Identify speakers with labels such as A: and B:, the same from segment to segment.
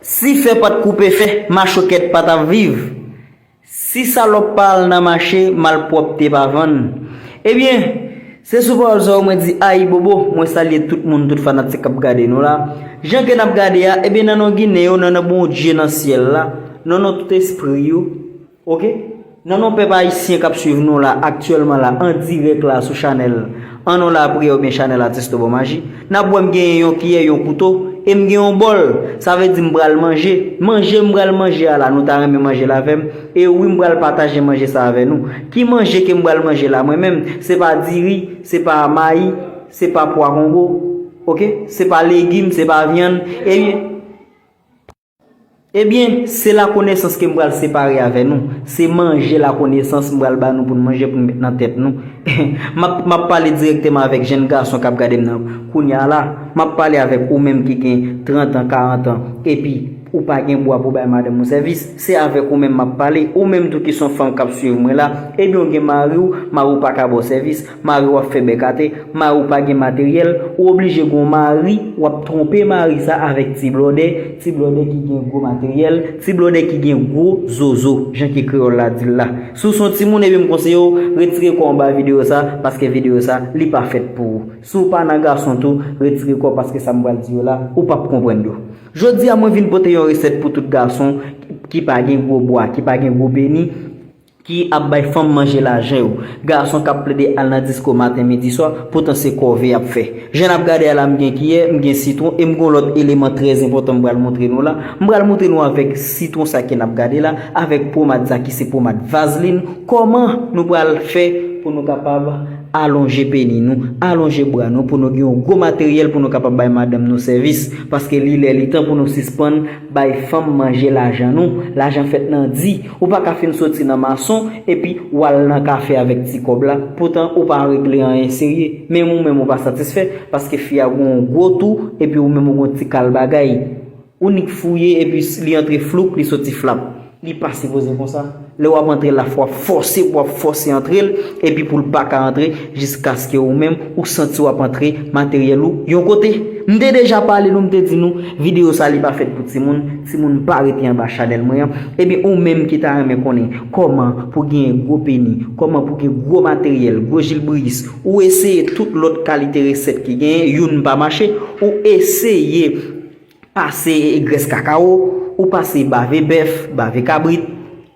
A: Si fè pat koupe fè, machokèt pa tap viv. Si salòp pa al nan mache, malpwòpte pa vann. Ebyen, se sou pawòl sa yo mwen di ayibobo, mwen salye tout moun, tout fanatik kap gade nou la. Jan ke nap gade a, ebyen nan non Ginen yo, nan non Bondye nan syèl la, nan non tout espri yo, Ok Nan non pèp ayisyen kap swiv nou la aktyèlman la an dirèk la sou chanèl An non lapriyè oubyen chanèl Atistò Bon Maji nap wè m genyen yon kiyè yon kouto e m gen yon bòl sa vle di m pral manje manje m pral manje a la nou ta renmen manje l avè m e wi m pral pataje manje sa avè nou ki manje ke m pral manje la mwen menm se pa diri se pa mayi se pa pwa kongo ok se pa legim se pa vyann ebyen. Ebyen, se lakonesans ke m pral separe avè nou. Se manje lakonesans m pral ba nou pou n manje pou n met nan tèt nou. M ap, m ap pale dirèkteman avèk jenn gason k ap gade m nan kounya a la. M ap pale avèk ou menm ki gen trant an, karant an, epi ou pa gen bwa pou bay madanm ou sèvis. Se avèk ou menm m ap pale. Ou menm tou ki s on fanm k ap suiv mwen la, ebyen ou gen mari w, mari w pa ka ba w sèvis. Mari w ap fè bèk ate, mari w pa gen materyèl, ou oblije gen yon mari, w ap twonpe mari sa avèk ti blòdè, ti blòdè ki gen gwo materyèl, ti blòdè ki gen gwo zozo, jan ke kreyòl la di l la. Si w se yon timoun epi m konseye w, retire kò w anba videyo sa, paske videyo sa, li pa fèt pou ou. Si w pa nan gason tou, retire kò w paske sa m pral di yo la, ou p ap konprann yo. Jodi a mwen vin pote yon resèt pou tout gason ki pa gen gwo bwa, ki pa gen gwo peni, Ki ap bay fanm manje lajan yo. Gason kap plede al nan disko maten midi swa, poutan se kòve yap fè. Jan nap gade a la m gen kiyè, m gen sitwon e m gon lòt eleman trè enpòtan m pral moutre nou la. M pral moutre nou avèk sitwon sa ke nap gade la, avèk pomad sa ki se pomad vazlin, kòman nou pral fè pou nou kapab alonje peni nou, alonje bra nou pou nou gen yon gwo materyèl pou nou kapab bay madanm nou sèvis. Paske li lè li tan pou nou sispann. Bay fanm manje lajan nou, lajan fèt nan di, ou pa ka fin soti nan mason epi ou al nan kafe avèk ti kòb la, poutan ou pa regle anyen serye, menm ou menm ou pa satisfè, paske fi a gon yon gwo tou epi ou menm ou gon ti kal bagay. Ou nik fouye epi li antre floup li soti flap. Li pa sipoze konsa. Lè wap antre la fwa fòse pou wap fòse antre l epi pou l pa ka antre jiskaske ou menm ou santi wap antre materyèl ou yon kote. M te deja pale nou m te di nou videyo sa li pa fèt pou timoun, timoun pa rete anba chanèl mwen an. Ebyen ou menm ki ta renmen konnen kòman pou genyen gwo peni, kòman pou gen gwo materyèl, gwo jilbriyis, ou eseye tout lòt kalite resèt ki genyen youn pa mache, ou eseye. Pase grès kakawo, ou pase bave bèf, bave kabrit,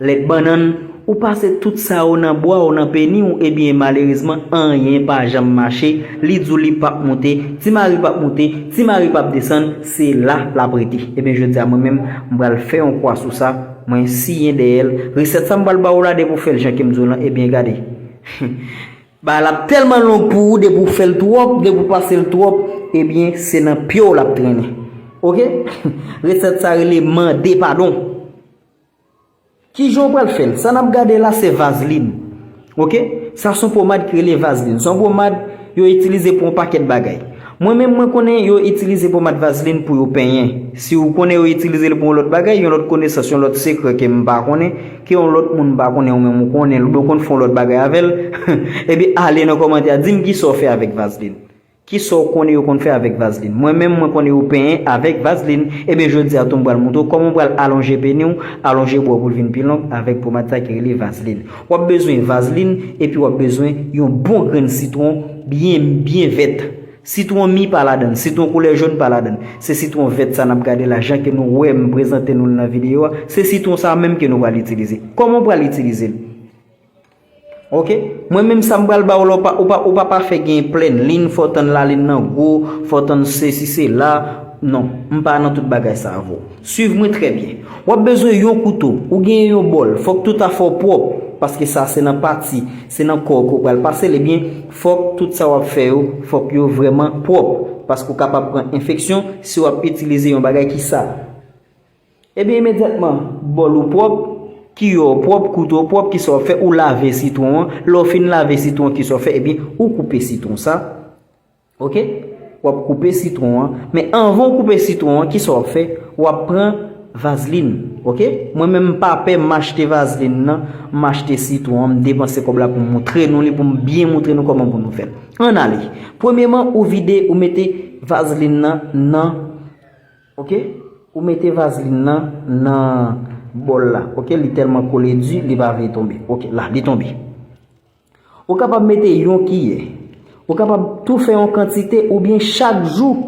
A: lèt bannann, ou pase tout sa yo nan bwa w, nan peni w, ebyen malerezman anyen pa janm mache, li di w li pap moute, Ti Mari pap moute, Ti Mari pap desann, se la l ap rete. Ebyen jodi a mwen menm, m pral fè yon kwa sou sa, mwen siyen dèyè l. Resèt sa m pral ba w la depi w fè l jan ke m di w lan, ebyen gade. Bagay la ap telman long pou ou depi ou fel trop depi ou pasel trop ebyen se nan pyew lap trennen ok reset sa rele mande padon kijan ou pral fel sa nap gade la se vazlin ok sa son pomad ki rele vazlin son pomad yo itilize pou yon paket bagay mwen menm mwen konnen yo itilize pomad vazlin pou yo penyen siw konnen yo itilizel pou yon lot bagay yon lot konesans yon lot sekre kem pa konnen Ke yon lòt moun pa konnen ou menm ou konnenl oubyen ou konn fè yon lòt bagay avèl ebyen ale nan kòmantè a dim kisa ou fè avèk vazlin kisa ou konnen yo konn fè avèk vazlin mwen menm mwen konnen yo penyen avèk vazlin ebyen jodia tou m pral moutre w kòman ou pral alonje peni w alonje bwa w pou l vin pi long avèk pomad sa ki rele vazlin wap bezwen vazlin epi wap bezwen yon bon grenn sitwon byen byen vèt. Sitwon mi pa ladann, sitwon koulè jaune pa ladann. Se sitwon vèt sa nap gade la, jan ke nou wèm prezante nou l nan videyo a, se sitwon sa menm ke nou pral itilize. Kòman ou pral itilize l? Ok, mwen menm sa m pral ba ou la, ou pa pa fè gen plèn lin, fò w tann lalin nan gwo, fò w tann sesi sela, non, m pa nan tout bagay sa avè w. Swiv mwen trè byen. W ap bezwen yon kouto, ou genyen yon bòl, fòk tout afè w pwòp, paske sa se nan pati, se nan kò w ke w pral pase l ebyen, fòk tout sa w ap fè yo, fòk yo vrèman pwòp, paske w kapab pran enfeksyon si w ap itilize yon bagay ki sal. Ebyen imedyatman bòl ou pwòp, kiyò w pwòp, kouto w pwòp, kisa w ap fè, ou lave sitwon an, lè w fin lave sitwon an kisa w fè, ebyen ou koupe sitwon sa, Ok wap koupe sitron an men anvan ou koupe sitron an kisa wap fè wap pran vazlin ok mwen menm m pa pè m achte vazlin nan m achte sitron an m depanse kòb la pou m moutre nou li pou m byen moutre nou kòman pou nou fèl ann ale premyeman ou vide ou mete vazlin nan nan ok ou mete vazlin nan nan bòl la ok li tèlman kole di li pa vle tonbe ok la li tonbe. Ou kapab mete yon kiyè. Ou kapab tou fè yon kantite oubyen chak jou.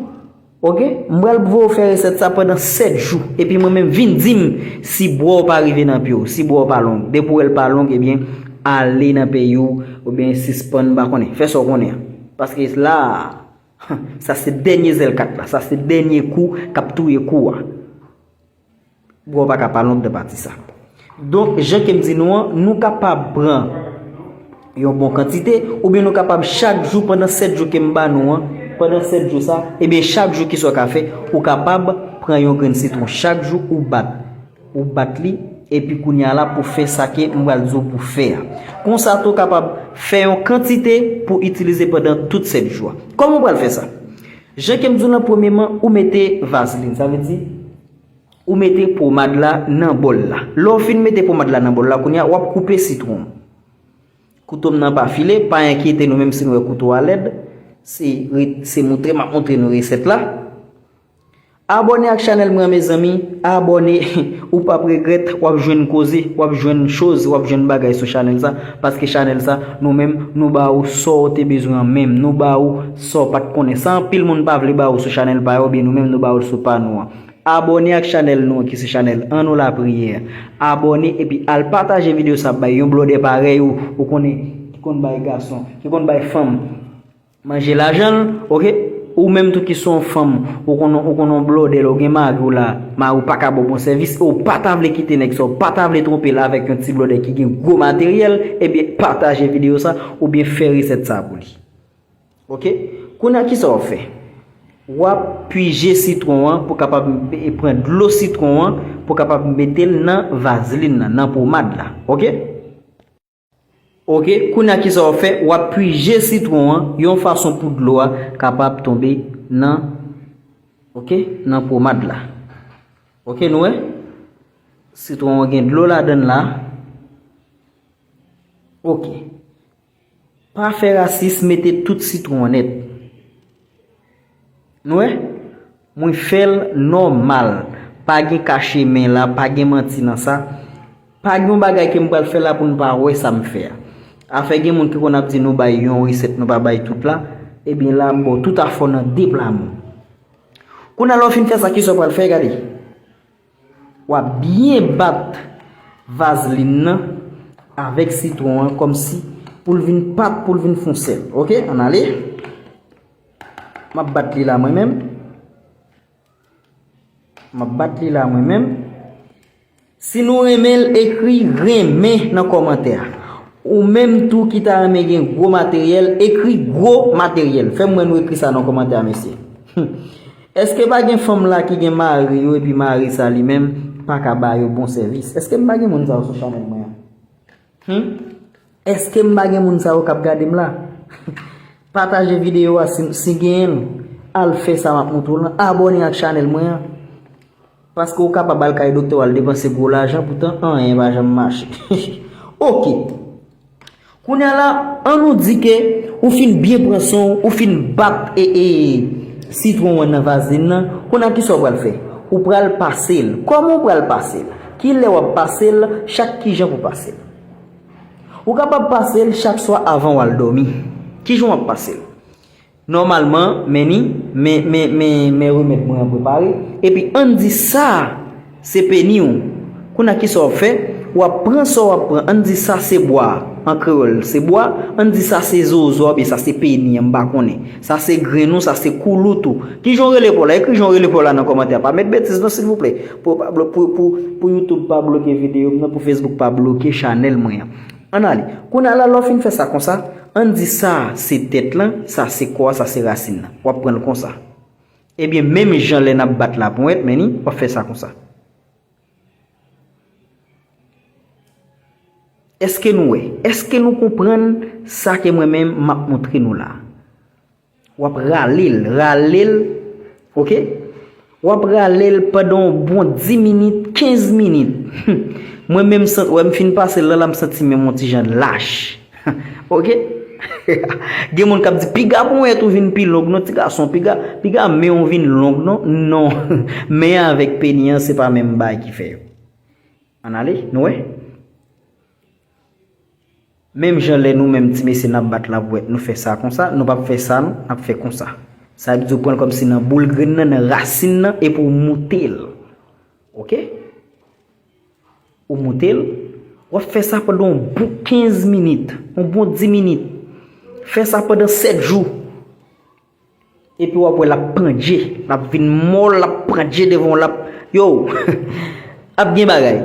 A: Ok, m pral voye w fè resèt sa pandan 7 jou. Epi mwen menm vin di m si bwa w pa rive nan pye w, si bwa w pa long. Depi w wè l pa long ebyen ale nan peyi w oubyen sispann m pa konnen. Fè sa w konnen an. Paske la a, sa se dènye zèl kat la. Sa se dènye kou k ap touye kou a. Bro pa ka pa long nan pati sa. Donk jan kem di nou an, nou kapab pran yon bon kantite, oubyen nou kapab chak jou pandan 7 jou kem ba nou an, pandan 7 jou sa, ebyen chak jou kisa w ka fè, ou kapab pran yon grenn sitwon chak jou ou bat, ou bat li, epi kounya la pou fè sa ke m pral di w pou fè a. Konsa tou kapab fè yon kantite pou itilize pandan tout 7 jou a. Kòman w pral fè sa? Jan kem diw lan premye man ou mete vaseline sa vle di ou mete pomad la nan bol la lèw fin mete pomad la nan bol la kounya wap koupe sitwon koutom nan pa file pa enkyete nou menm si nou wè kouto a lèd se moutre map moutre nou resèt la. Abòne ak chanèl mwen an mezanmi abòne ou pap regrèt wap jwenn koze wap jwenn choz wap jwenn bagay sou chanèl sa paske chanèl sa nou menm nou ba ou sa ou te bezwen an menm nou ba ou sa ou pat konnen sa anpil moun pa vle ba ou sou chanèl pa yo byen nou menm nou ba ou l sou pa nou an abòne ak chanèl nou an ki se chanèl an nou lapriyè abòne epi al pataje video sa bay yon blòdè parèy ou ou konnen ki konn bay gason ki konn bay fanm manje lajan l ok ou menm tou ki son fanm ou konn ou konn on blòdè lè ou gen mari w la mari w paka ba w bon sèvis e w pata vle kite nèg sa w pata vle twonpe l avèk yon ti blòdè ki gen gwo materyèl ebyen pataje videyo sa oubyen fè resèt sa pou li ok kounye a kisa w ap fè w ap pwije sitwon an pou kapab pran dlo sitwon an pou kapab mete l nan vazlin nan nan pomad la ok. Ok kounya kisa wap fè wap pwije sitron an yon fason pou dlo a kapab tonbe nan ok nan pwomad la ok nou wè sitron an gen dlo ladann la ok pa fè rasis mete tout sitron an nèt. Nou wè? Mwen fè l nòmal. Pa gen kache men la, pa gen manti nan sa. Pa gen yon bagay ke m pral fè la pou nou pa wè sa m fè a. Afè gen moun ki konn ap di nou bay yon resèt nou pa bay tout la, ebyen la m ba w tout a fò nan de pla moun. Kounye a la w fin fè sa kisa w pral fè, gade. Wap byen bat vaseline nan avèk sitron an kòmsi poul vin pat poul vin fon sèl ok ann ale map bat li la mwen menm map bat li la mwen menm si nou renmenl ekri renmen nan kòmantè a ou menm tou ki ta renmen gen gwo materyèl ekri gwo materyèl fèm wè nou ekri sa nan kòmantè a mesye humm. Eske pa gen fanm la ki gen mari yo epi mari sa li menm paka ba yo bon sèvis eske m pa gen moun sa yo sou chanèl mwen an humm eske m pa gen moun sa yo kap gade m la pataje videyo a si genyen l al fè sa map montre w lan abòne ak chanèl mwen an. Paske ou kapab al kay doktè w al depanse gwo lajan poutan anyen pa janm mache. Ok! Kounya la, an nou di ke ou fin byen pran swen w, ou fin bat e e sitwon an nan vazelin nan, kounye a kisa w pral fè? Ou pral pase l. Kòman ou pral pase l? Kilè w ap pase l? Chak kijan pou w pase l? Ou kapab pase l chak swa avan w al dòmi. Kijan w ap pase l? Nòmalman, men ni, men, men, men, men remèd mwen an prepare, epi ann di sa a se peni ou. Kounye a ki sa w ap fè? W ap pran sa w ap pran, ann di sa se bwa, an kreyòl, se bwa, ann di sa se zozo a oubyen sa se peni an, m pa konnen, sa se grenn ou, sa se koulout ou, ki jan w rele pa w la? Ekri jan w rele pa w la nan kòmantè a, pa met betiz non silvouplè, pou yo pa, pou, pou, pou YouTube pa bloke videyo m nan, pou Facebook pa bloke chanèl mwen an. Ann ale. Kounye a la, lè w fin fè sa konsa, ann di sa a se tèt lan, sa a se kò a, sa a se rasin lan. W ap pran l konsa. Ebyen, menm jan lè n ap bat laponyèt, men ni, w ap fè sa konsa. Èske nou wè? Èske nou konprann sa ke mwen menm m ap montre nou la a? Wap ralel ralel ok. Wap ralel pandan yon bon 10 minit 15 minit humm mwen menm sant wèm fin pasel lan la msanti menm yon ti jan lach humm ok gen moun kap di piga ponyèt ou vin pi long non ti gason piga piga menw vin long non non men avèk peni an se pa menm bagay ki fè yo ann ale nou wè. Menm jan lè nou menm ti mesye nap bat labouwèt nou fè sa konsa, nou pap fè sa nou, nap fè konsa. Sa vle di ou pranl kòm si nan boul grenn nan, nan rasin nan epi ou moutel. Ok? Ou moutel, wap fè sa pandan yon bon 15 minit, yon bon 10 minit. Fè sa pandan 7 jou. Epi wap wè lap pandje lap vin mòl lap pandje devan w lap yoww ap gen bagay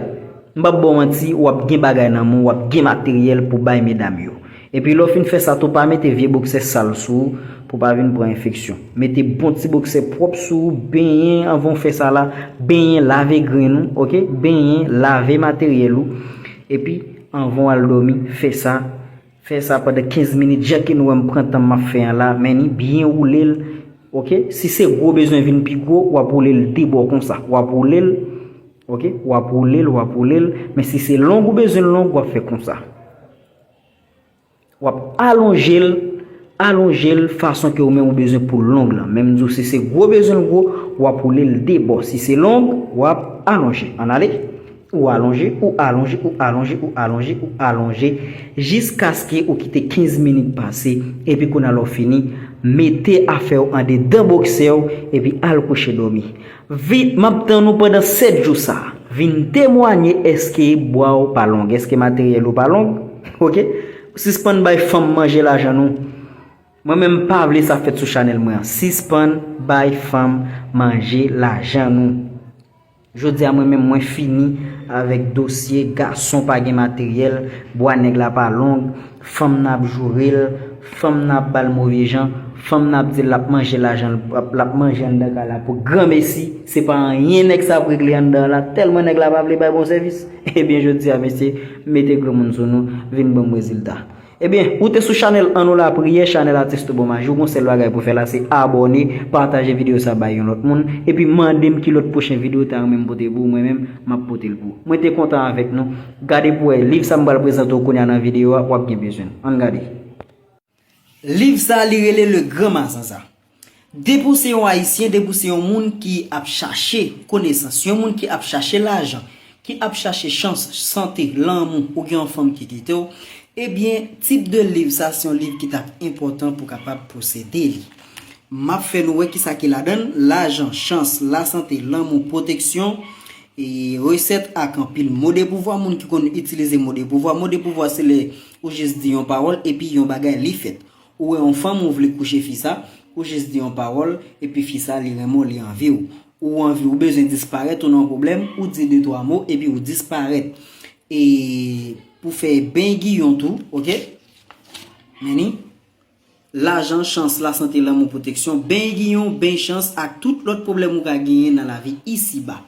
A: m pap baw manti wap gen bagay nan men w wap gen materyèl pou bay medam yo epi lè w fin fè sa tou pa mete vye boksè sal sou ou pou pa vin pran enfeksyon mete bon ti boksè pwòp sou ou benyen anvan w fè sa la benyen lave grenn ou ok benyen lave materyèl ou epi anvan w al dòmi fè sa. Fè sa pandan 15 minit jan ke nou wè m pran tan m ap fè an la men ni byen woule l ok si se gwo bezwen vin pi gwo w ap woule l de bò konsa w ap woule l ok w ap woule l w ap woule l men si se long ou bezwen l long w ap fè konsa w ap alonje l alonje l fason ke ou menm ou bezwen pou l long lan men m di w si se gwo bezwen l gwo w ap woule l de bò si se long w ap alonje ann ale. Ou alonje, ou alonje, ou alonje, ou alonje, ou alonje jiskaske ou kite 15 minit pase epi kounye la w fini, mete afè w andedan boksè w epi al kouche dòmi. Vit, m ap tann ou pandan 7 jou sa. Vin temwanye èske bwa w pa long, èske materyèl ou pa long. Ok. Sispann bay fanm manje lajan nou. Mwen menm m pa vle sa fèt sou chanèl mwen an. Sispann bay fanm manje lajan nou. Jodi a mwen menm mwen fini avèk dosye gason pa gen materyèl, bwa nèg la pa long, fanm nan ap joure l, fanm nan ap ba l move jan, fanm nan ap di l l ap manje lajan l, l ap manje anndan kay la pou granmesi, se pa anyen nèg sa ap regle anndan la tèlman nèg la pa vle bay bon sèvis. Ebyen jodi a mesye mete granmoun sou nou vin ban m rezilta. Ebyen ou te sou chanèl an nou la priyè chanèl atis tou bon maji ou gon sèl bagay pou fè la se abòne pataje video sa bay yon lòt moun epi mandem ki lòt pwochen video ou ta renmenm pote pou mwen menm map potel pou ou mwen te kontan avèk nou gade pou wè liv sa m pral prezante w kounya nan video a wap gen bezwen l ann gade liv sa li rele le gran mazanza. Depi w se yon Ayisyen, depi w se yon moun ki ap chache konesans, yon moun ki ap chache lajan, ki ap chache chans, sante, lanmou, ou gen yon fanm ki kite w, ebyen tip de liv sa se yon liv ki t ap enpòtan pou w kapab posede li. M ap fè nou wè ki sa ki ladan l, lajan, chans, lasante, lanmou, pwoteksyon, resèt ak anpil mo de pouvwa moun ki konn itilize mo de pouvwa. Mo de pouvwa se lè ou jis di yon pawòl epi yon bagay li fèt. Ou wè yon fanm ou vle kouche fi sa, ou jis di yon pawòl, epi fi sa li renmen w li anvi w. Ou anvi ou bezwen disparèt ou nan yon pwoblèm, ou di de twa mo epi ou disparèt. E pou fè ben giyon tou ok Men ni Lajan, chans, lasante, lanmou, pwoteksyon, ben giyon, ben chans ak tout lòt pwoblèm ou ka genyen nan lavi isi ba.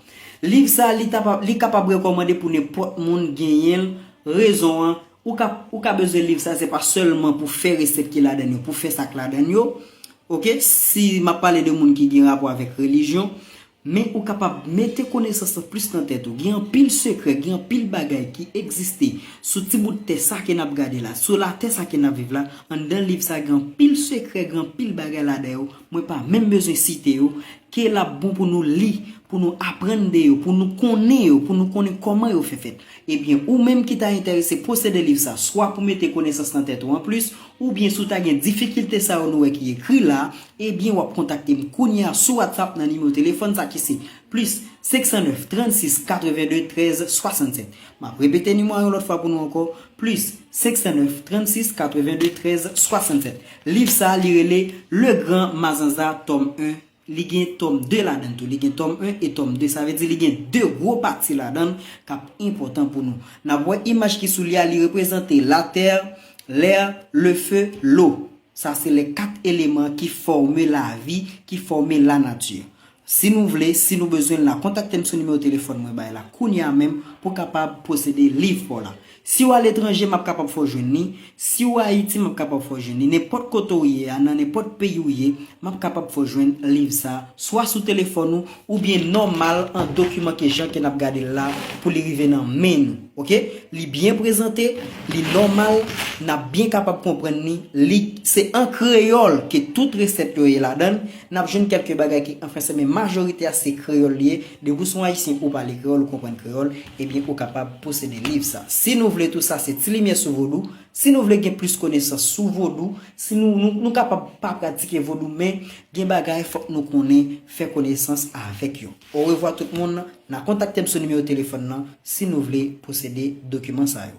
A: Liv sa li kapab rekòmande pou nenpòt moun genyen l, rezon an. Ou ka ou ka bezwen liv sa se pa sèlman pou fè resèt ki ladann yo pou fè sa k ladann yo ok si m ap pale de moun ki gen rapò avèk relijyon men ou kapab mete konesans lan plis nan tèt ou gen anpil sekrè gen anpil bagay ki egziste sou ti bout tè sa ke n ap gade la sou latè sa ke n ap viv la anndan liv sa gen anpil sekrè gen anpil bagay ladan yo mwen pa menm bezwen site yo ke l ap bon pou nou li pou nou aprann de yo pou nou konnen yo pou nou konnen kòman yo fè fèt Ebyen, ou menm ki ta enterese posede liv sa, swa pou mete konesans nan tèt ou anplis, oubyen si w ta gen difikilte sa yo nou wè ki ekri la, ebyen w ap kontakte m kounye a sou Whatsapp nan nimewo telefòn sa ki se, plis 509 36 82 13 67. M ap repete nimewo a yon lòt fwa pou nou ankò, plis 509 36 82 13 67. Liv sa, li rele Le Grand Mazanza, Tome 1, Li gen tòm 2 ladan l tou. Li gen tòm 1 e tòm 2. Sa vle di li gen 2 gwo pati ladan l k ap enpòtan pou nou. N ap wè imaj ki sou li a li reprezante latè, lè, lefe, lwo. Sa se lè 4 eleman ki fòme lavi, ki fòme lanati. Si nou vle, si nou bezwen l la, kontakte m sou nimewo telefòn mwen bay la kounye a menm pou w kapab posede liv pa w la. Si w aletranje, m ap kapab fè w jwenn li. Si w Ayiti, m ap kapab fè w jwenn li. Nenpòt kote w ye a, nan nenpòt peyi w ye, m ap kapab fè w jwenn liv sa a, swa sou telefòn ou, oubyen nòmal an dokiman ke jan ke n ap gade l la a, pou li rive nan men nou. Ok? Li byen prezante, li nòmal, n ap byen kapab konprann li. Li, se an kreyòl ke tout resèt yo ye ladan l. N ap jwenn kèlke bagay ki an franse, men majorite a se kreyòl li ye. Depi w son Ayisyen ou pale kreyòl ou konprann kreyòl, ebyen ou kapab posede liv sa. Si nou vle tou sa se ti limyè sou vodou, si nou vle gen plis konesans sou vodou, si nou nou kapab pa pratike vodou men gen bagay fòk nou konnen fè konesans avèk yo. Orevwa tout moun, na kontakte m sou nimewo telefòn nan si nou vle posede dokiman sa yo.